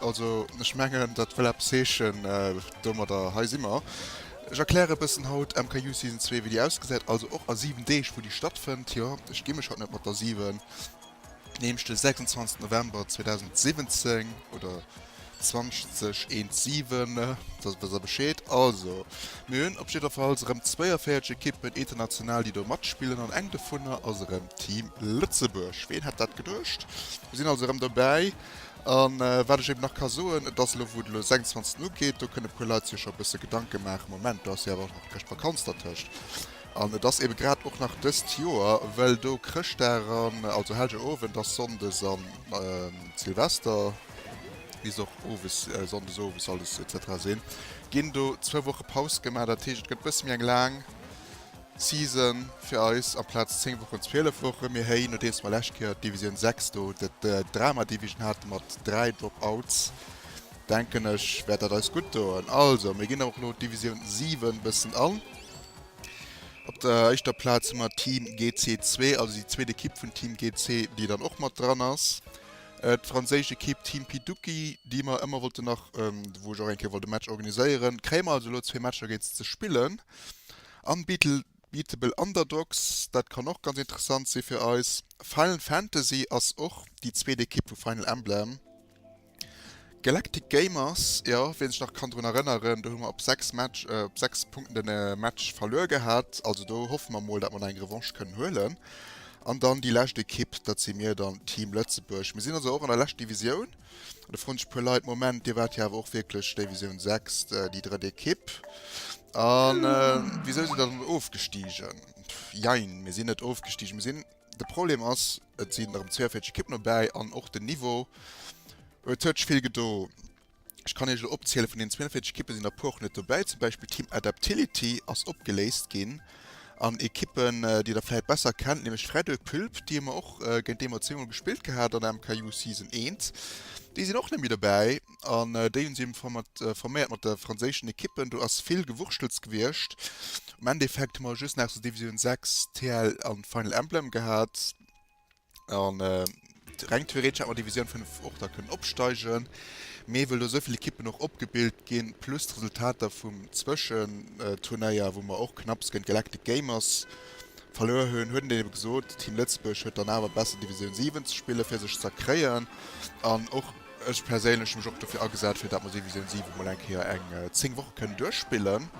Also ech mengen dat wëll eppes heeschen, domadder hei si mer. Ech erkläre e bëssen haut MKU Season zwee wéi déi ausgesäit, also och a 7 Deeg wou déi stattfënnt. Jo ech gi mech haut net mat der 7, nämlech de 26 November 2017 oder 2017, dass dass der Bescheed. Also mir hunn op jiddwerfalls erëm 42 Ekippen international déi do matspillen an eng dovunner ass erëm Team Lëtzebuerg. Ween hätt dat geduecht? Mir sinn also erëm dobäi. A wat ech eben nach ka soen, et ass elo, wou et elo 26 Uhr ugeet, do kënne e puer Leit sech scho e bësse Gedanke maachen, Moment, do ass jo awer och nach d'Chrëschtvakanz dertëscht. An et ass eben grad och nach dëst Joer, well do Chrëschtdag an also Hellgerowend ass, sonndes a Silvester, wéi se och owes, sonndes owes alles etc. Sinn, ginn do zwou Woche Paus gemaach. Dat heescht, et gëtt e bësse méi eng laang. Season fir eis amplaz 10 Wochen 12 Wochen. Mir héi nodeems mer lescht Kéier Division 6 do dat Drama Division hate mat 3 Dropouts denken ech wäert dat eis gutt doen. Also mir ginn och elo Division 7 bëssen an. Op der éischter Plaz hu mer Team GC zwee, also déi zweet Ekipp vun Team GC déi dann och mat dran ass. D'franséisch Ekipp Team Pituki déi mer ëmmer wollten nach wou ech och eng Kéier wollt e Match organiséieren kréie mer also elo zwee Matcher géint se ze spillen. Unbeatable Underdogs, dat kann och ganz interessant si fir eis. Final Fantasy ass och déi zweet Ekipp vu Final Emblem. Galactic Gamers, jo, wien sech nach kann drun erënneren, do hu mer op 6 Match, op 6 Punkten den Match verluer gehat. Also do hoffe mer mol, dat mer nach eng Revanche kënnen huelen. An dann déi lescht Ekipp, dat si mir dann, Team Lëtzebuerg. Mir sinn also och an der lescht Divisioun. De Frunsch puer Leit, Moment, Dir waart jo awer och wierklech Divisioun 6, déi drëtt Ekipp. An wisou sidd Der dann ofgestigen? Jein, mir sinn net ofgestigen. Mir sinn, de Problem ass, et sinn erëm 42 Ekippen dobäi an och den Niveau, et huet sech vill gedo. Ech kann Iech elo opziele vun deenen 42 Ekippen sinn der e puer och net dobäi, zum Beispill d'Team Adaptility ass opgeléist ginn. an Equippen déi der vläit besser kennt, nämlech Frädel Pulp, déi hu mer och, géint déi mer zweemol gespillt gehat an der MKJu Season 1, déi sinn och net méi dobäi an déi hunn si forméiert mat de franséischen Equippen. Do ass vill Gewurschtels gewiescht. Am Endeffekt hu mer just nach zu Divisioun 6 TL an Final Emblem gehat. An reng theoretesch hätt mer Divisioun 5 och da kënnen opsteigen, mee wëll do esou vill Ekippen och opgebilt ginn, plus d'Resultater vum Zwëschenturnéier, wou mer och knapps géint Galactic Gamers verluer hunn, huet en dann ebe gesot, Team Lëtzebuerg huet dann awer besser Divisioun 7 ze spillen, fir sech z'erkréien. An och ech perséinlech hu mech och dofir agesat, fir datt mer Divisioun 7 mol eng Kéier eng 10 Woche kënnen duerchspillen.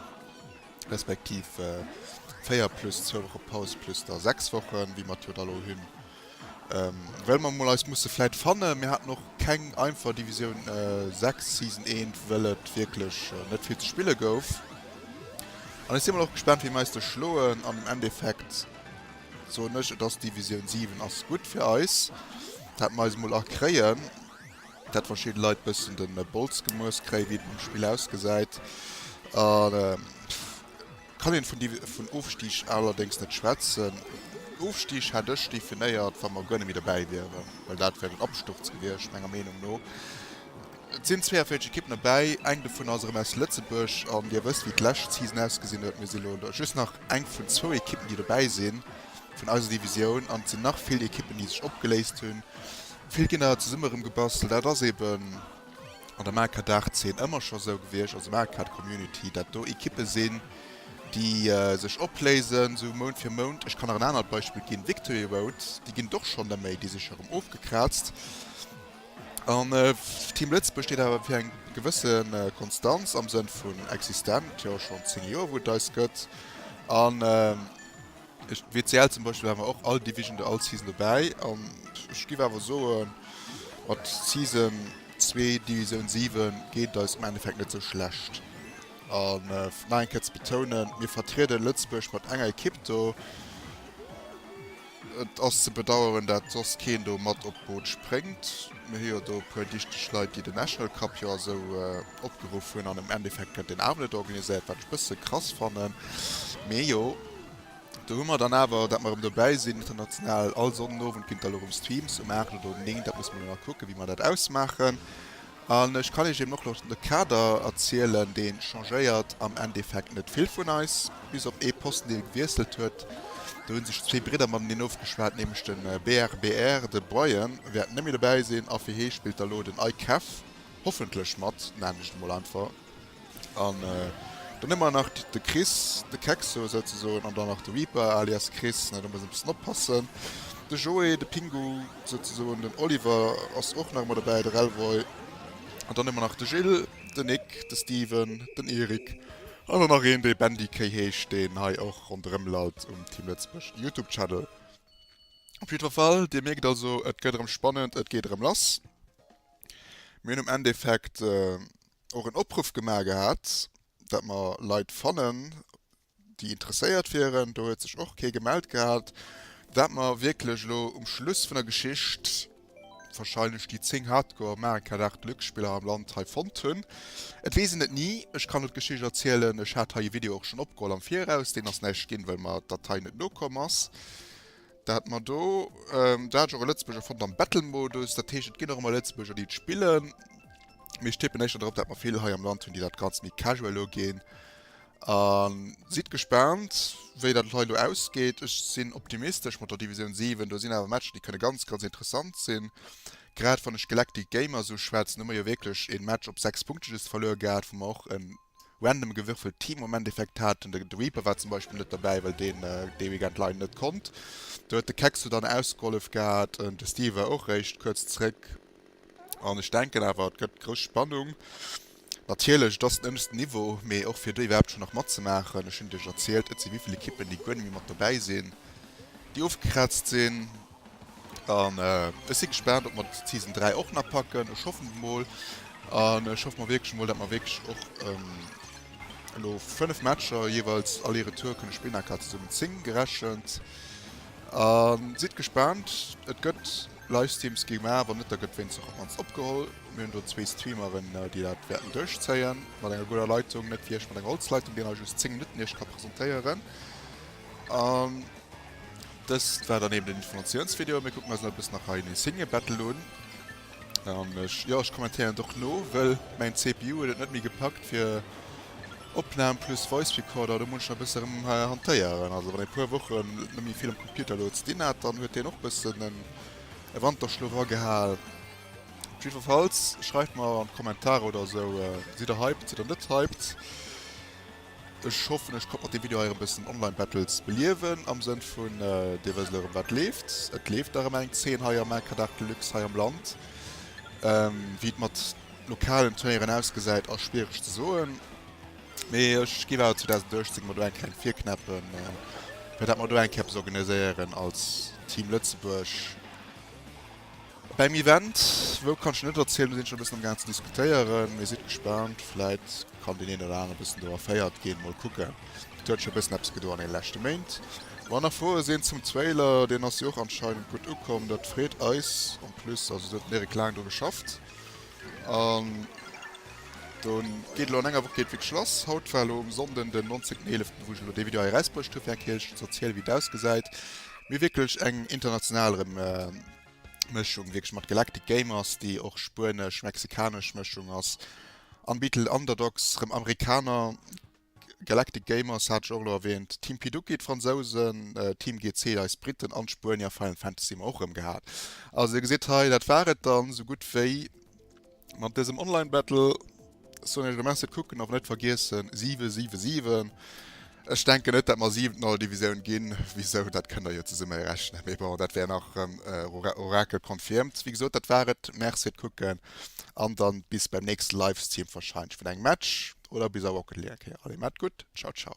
respektiv 4 plus 2 Woche Paus plus da 6 Wochen, wéi mer d'Joer d'Alo hunn, well mer mol eis musse vläit fannen. Mir haten och keng einfach Divisioun 6 Season eent, well et wierklech net vill ze spille gouf. An ech si mol och gespaant, wéi mer eis do schloen. An am Endeffekt soen ech, et ass Divisioun 7 ass gutt fir eis, dat mer eis mol erkréien. Datt verschidden Leit bëssen den Bolz gemuess kréien wéi et nom Spill ausgesäit kann een vun Ofstig allerdéngs net schwätzen. Ofstig hätt ech definéiert wa mer guer net méi dobäi wieren, well dat wär den Absturz gewiescht menger Meenung no. Et sinn 42 Ekippen dobäi, eng dovun ass erëm aus Lëtzebuerg an Dir wësst wéi d'lescht Season ausgesinn huet. Mir si lo just nach eng vun zwou Ekippen déi dobäi si vun eiser Divisioun an et sinn nach vill Ekippen déi sech opgeléist hunn. Vill Kinner zesumme rëm gebastelt. Dat ass eben an der Maker-Daagszeen ëmmer scho sou gewiescht. Also Maker-Community, dat do Ekippe sinn, déi sech opléisen, sou Mount fir Mount. Ech kann nach en anert Beispill ginn, Victory Road, déi ginn et och schonn neméi, déi si scho rëm ofgekraazt. An Team Lëtzebuerg steet awer fir eng gewësse Konstanz am Sënn vun existent, jo schonn 10 Joer, wou et eis gëtt. An. Ech WCL zum Beispill awer och all Division der all Season dobäi an ech giff awer soen mat Season zwee Divisioun 7 geet et eis am Endeffekt net sou schlecht an fir nach eng Kéier ze betounen mir vertrieden Lëtzebuerg mat enger Ekipp do, et ass ze bedaueren dat soss keen do mat op d'Boot spréngt, mir hu jo do e puer dichteg Leit déi den National Cup jo a sou. Opgeruff hunn an um Endeffekt gëtt deen awer net organiséiert, wat ech e bësse krass fannen. Mee jo, do hu mer dann awer, dat mer erëm dobäi sinn, international, all Sonnenowend ginn d'Allure um Streams um 8 oder um 9, dat musse mer elo nach kucken, wéi mer dat ausmaachen. An ech kann Iech eben och elo de Kader erzielen, dee changéiert am Endeffekt net vill vun eis, bis op ee Posten, dee gewiesselt huet. Do hu sech zwee Bridder mateneen ofgeschwat, nämlech de BRBR, de Brian wäert net méi dobäi sinn a fir hie spillt da elo den Aykef. Hoffentlech mat, nennen ech et mol einfach. An dann hu mer nach de Chris, de Kexo souzesoen, an dann nach de Reaper alias Chris, da muss een e bëssen oppassen, de Joé, de Pingu souzesoen, den Oliver ass och nach ëmmer dobäi, de Relvoy. An dann hu mer nach de Gil, den Nick, de Steven, den Erik an dann nach een, dee Bendikéi heescht, deen hei och ronderëm lallt um Team Lëtzebuerg Youtube-Channel. Op jiddwer Fall, Dir mierkt also, et gëtt erëm spannend, et geet erëm lass. Mir hunn am Endeffekt och en Opruff gemaach gehat, datt mer Leit fannen, déi interesséiert wieren. Do huet sech och kee gemellt gehat. Wat mer wierklech elo um Schluss vun der Geschicht, warscheinlech déi 10 Hardcore America Dark Deluxe Spiller am Land hei fonnt hunn, et weess een et ni. Ech kann elo d'Geschicht erzielen, ech hat hei e Video och schonn opgeholl am Viraus, deen ass näischt ginn, well mer d'Datei net nokomm ass. Dat mer do, dat ass jo och e Lëtzebuerger Fond am Bettelmodus. Dat heescht, et ginn och ëmmer Lëtzebuerger, déi et spillen. Mee ech tippen éischter drop, dat mer vill hei am Land hunn, déi dat Ganzt méi casual uginn. A sidd gespaant, wéi dat hei elo ausgeet. Ech sinn optimistesch mat der Divisioun 7. Do sinn awer Matcher, déi kënne ganz, ganz interessant sinn. Grad wann ech Galactic Gamer esou schwätzen, hu mer jo wierklech e Match op sechs Punkte just verluer gehat, wou mer och en. random gewürfelt Teammomenteffekt haten. De Reaper war zum Beispill net dobäi, well deen dee Weekend leider net konnt. Do huet de Kexxu dann ausgehollef gehat an de Steve war och eréischt kuerz zréck. An ech denken awer, et gëtt grouss Spannung. Natierlech, et ass den ënneschten Niveau, mee och fir do iwwerhaapt schonn nach matzemaachen. Ech hunn et iech erzielt, et si vill, vill Ekippen, déi guer net méi mat dobäi sinn, déi ofgekraazt sinn. An ech si gespaant, ob mer d'Season 3 och nach packen. Ech hoffen et mol. An ech hoffe mol wierklech emol, dat mer wierklech och elo 5 Matcher jeeweils Aller-Retour kënne spillen, aka zesummen 10 gerechent. A sidd gespaant, et gëtt Livestreams gemaach. Wann net, da gëtt wéinstens op mannst opgeholl. Mir hunn do zwee Streameren, déi dat wäerten duerchzéien mat enger gudder Leitung. Net wéi ech mat enger Holzleitung, déi nach just 10 Minutten Iech ka presentéieren. Dëst war dann eben den Informatiounsvideo. Mir kucken eis elo e bëssen nach hei en Insignia Battle un. An ech, jo, ech kommentéieren et och no, wëll mäin CPU huet et net méi gepackt fir Opnahm plus Voice Recorder, do muss ech nach e bësse erëm hantéieren. Also wann ee puer Wochen net méi vill um Computer elo ze dinn hat, dann huet deen och bëssen en e Wanterschlof agehal. Op jiddwerfalls schreift mer an d'Kommentare oder esou, sidd der hyped, sidd der net hyped? Ech hoffen ech konnt mat dem Video hei erëm bëssen Online Battles beliewen am Sënn vun dir wësst erëm wat leeft. Et leeft nach ëmmer eng Zeen hei am LK Dart Deluxe hei am Land. Wéi et mat lokalen Turnéieren ausgesäit ass schwiereg ze soen, mee ech géif awer 2018 mol do eng kleng virknäppe fir dat mer do eng Kéier eppes organiséieren als Team Lëtzebuerg. Beim Event, wou kann ech jo net erzielen, do sinn ech scho e bëssen am gaangen ze diskutéieren, mee sidd gespaant, vläit kann deen een oder anere bëssen do erféiert ginn. Mol kucken, et huet scho e bëssen eppes gedoen an deene leschte Méint. Wann nach Froe sinn zum Trailer, deen ass jo och anscheinend gutt ukomm, dat freet eis. En plus, also do huet den Eric laang dru geschafft an do geet elo an enger Woch geet wierklech lass. Haut war elo um Sonnden den 19 Eeleften, wou ech elo dee Video hei erausbruecht hu fir eng Kéier iech ze erzielen, wéi et ausgesäit, mee wierklech eng international erëm. Mëschung wierklech mat Galactic Gamers, déi och spuenesch-mexikanesch Mëschung ass, an Beatle Underdogs, rëm Amerikaner, Galactic Gamers hat ech och elo erwähnt, Team Pidookie, d'Fransousen, Team GC, eis Briten, an d'Spuenier, Final Fantasy, hu mer och rëm gehat. Also dir gesitt hei, dat war et dann esou gutt wéi. Mat dësem Online Battle soen ech elo Merci fir d'Kucken, awer net vergiessen 7, 7, 7. Ech denken net, datt mer siwent an all Divisioun ginn. Wisou, dat kënnt der jo zesumme erechnen. Mee bon, dat wär nach erëm Oracle confirmed. Wéi gesot, dat war et. Merci fir d'Kucken an dann bis beim nächste Livestream wahrscheinlech vun engem Match oder bis a Rocket League eng Kéier. Allez, maat gutt, ciao ciao.